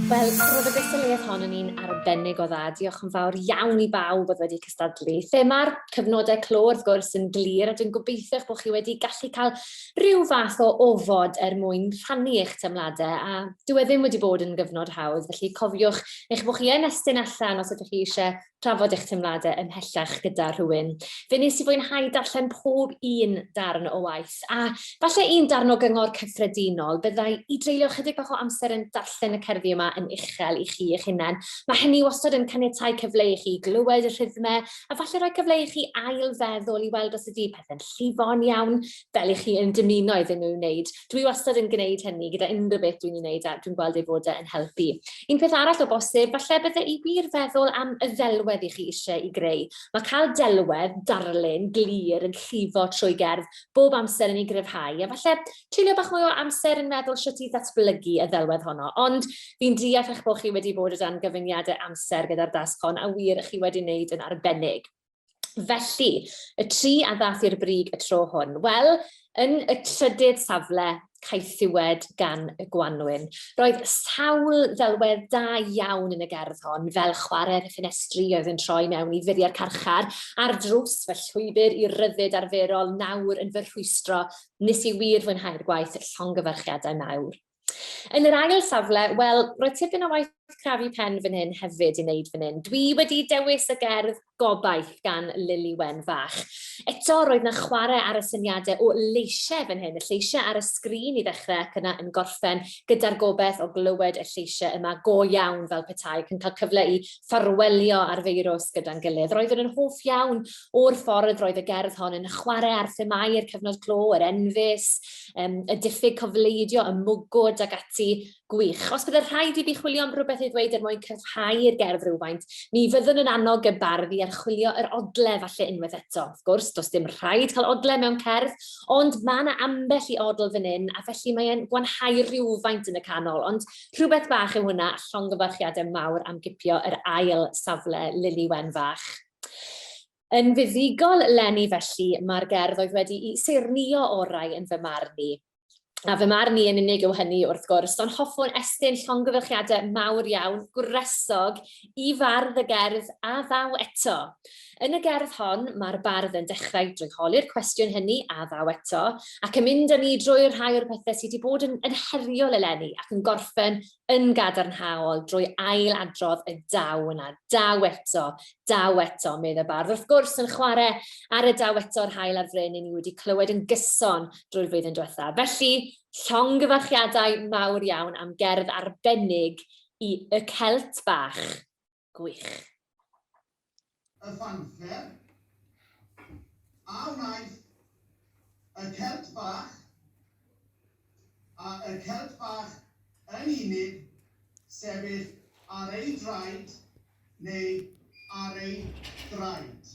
Wel, roedd y gystadleuaeth hon yn un arbennig o dda. Diolch yn fawr iawn i bawb oedd wedi cystadlu. Thema'r cyfnodau clo, wrth gwrs, yn glir, a dwi'n gobeithio bod chi wedi gallu cael rhyw fath o ofod er mwyn rhannu eich teimladau, a dwi e ddim wedi bod yn gyfnod hawdd, felly cofiwch eich bod chi yn estyn allan os ydych chi eisiau trafod eich teimladau ymhellach gyda rhywun. Fe nes i fwynhau darllen pob un darn o waith, a falle un darn o gyngor cyffredinol, byddai i dreulio chydig bach o amser yn darllen y cerddi yma yn uchel i chi eich hunain. Mae hynny wastad yn caniatau cyfle i chi glywed y rhythmau, a falle rhoi cyfle i chi ail-feddwl i weld os ydy pethau'n llifo'n iawn, fel i chi yn dymuno iddyn nhw wneud. Dwi wastad yn gwneud hynny gyda unrhyw beth dwi'n ei wneud a dwi'n gweld ei fod e yn helpu. Un peth arall o bosib, falle bydde i wir feddwl am y ddelwedd i chi eisiau i greu. Mae cael delwedd, darlun, glir yn llifo trwy gerdd bob amser yn ei gryfhau, a falle treulio bach mwy o amser yn meddwl sut i ddatblygu y ddelwedd honno. Ond fi'n deall eich bod chi wedi bod o dan gyfyngiadau amser gyda'r dasg hon, a wir, chi wedi wneud yn arbennig. Felly, y tri a ddath i'r brig y tro hwn. Wel, yn y trydydd safle, caethiwed gan y gwanwyn. Roedd sawl ddelwedd da iawn yn y gerdd hon, fel chwarae'r ffenestri oedd yn troi mewn i furiau'r carchar, a'r drws fy llwybr i ryddid arferol nawr yn fy rhwystro, nes i wir fwynhau'r gwaith llongyfarchiadau mawr. Yn yr ail safle, wel, roedd tipyn o waith crafu pen fan hyn hefyd i wneud fan hyn. Dwi wedi dewis y gerdd Gobaith gan Lili Wen Fach. Eto, roedd na chwarae ar y syniadau o leisiau fan hyn, y lleisiau ar y sgrin i ddechrau ac yna yn gorffen gyda'r gobaith o glywed y lleisiau yma go iawn fel petai ac yn cael cyfle i ffarwelio ar feirws gyda'n gilydd. Roeddwn yn hoff iawn o'r ffordd roedd y gerdd hon yn chwarae ar themau'r cyfnod clo, yr enfys, um, y diffyg cofleidio, y mwgwd ac ati gwych. Os byddai'r rhaid i fi chwilio am rhywbeth i ddweud er mwyn cryfhau'r gerdd rhywfaint, mi fyddwn yn annog y bardd i archwilio yr odle falle unwaith eto. Wrth gwrs, does dim rhaid cael odle mewn cerdd, ond mae yna ambell i odl fan hyn, a felly mae'n gwanhau rhywfaint yn y canol. Ond rhywbeth bach yw hwnna, a llongyfarchiadau mawr am gipio yr ail safle Lili Wen Fach. Yn fuddugol leni felly mae'r gerdd oedd wedi'i seirnio orau yn fy marn i. A fy marn i yn unig yw hynny wrth gwrs, ond hoffwn estyn llongyfarchiadau mawr iawn, gwresog, i fardd y gerdd a ddaw eto. Yn y gerdd hon mae'r bardd yn dechrau drwy holi'r cwestiwn hynny a ddaw eto, ac yn mynd â ni drwy'r rhai o'r pethau sydd wedi bod yn, yn heriol eleni ac yn gorffen yn gadarnhaol drwy ail-adrodd y daw yna, daw eto, daw eto, medd y bardd. Wrth gwrs, yn chwarae ar y daw eto yr hael ar fryn i ni wedi clywed yn gyson drwy'r flwyddyn diwethaf. Felly, llong gyfarchiadau mawr iawn am gerdd arbennig i Y Celt Bach. Gwych. Y fanfer, a wnaeth y Celt Bach, a y Celt Bach yn unig, sefyll ar ei draed, neu ar ei draed.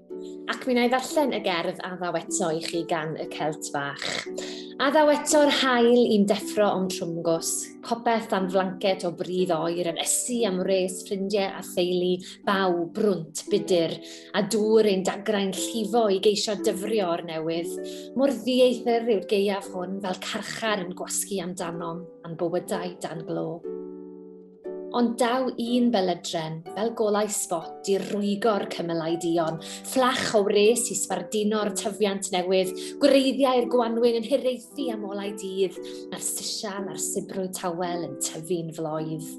Ac mi wna i ddarllen y gerdd a ddaw eto i chi gan y Celt Fach. A ddaw eto'r hael i'n deffro o'n trwmgws, popeth dan flanced o bridd oer yn ysu am wres ffrindiau a theulu, baw, brwnt, budur, a dŵr ein dagrau'n llifo i geisio dyfrio o'r newydd. Mor ddieithr yw'r gaeaf hwn fel carchar yn gwasgu amdanom, a'n bywydau dan glo. ond daw un belydren fel golau sbot i rwygo'r cymylau dion, fflach o wres i sbardino'r tyfiant newydd, gwreiddiau'r gwanwyn yn hireithi am olau dydd, a'r sisial a'r sibrwy tawel yn tyfu'n floedd.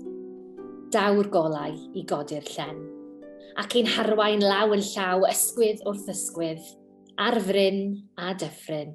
Daw'r golau i godi'r llen, ac i'n harwain law yn llaw ysgwydd wrth ysgwydd, ar fryn a dyffryn.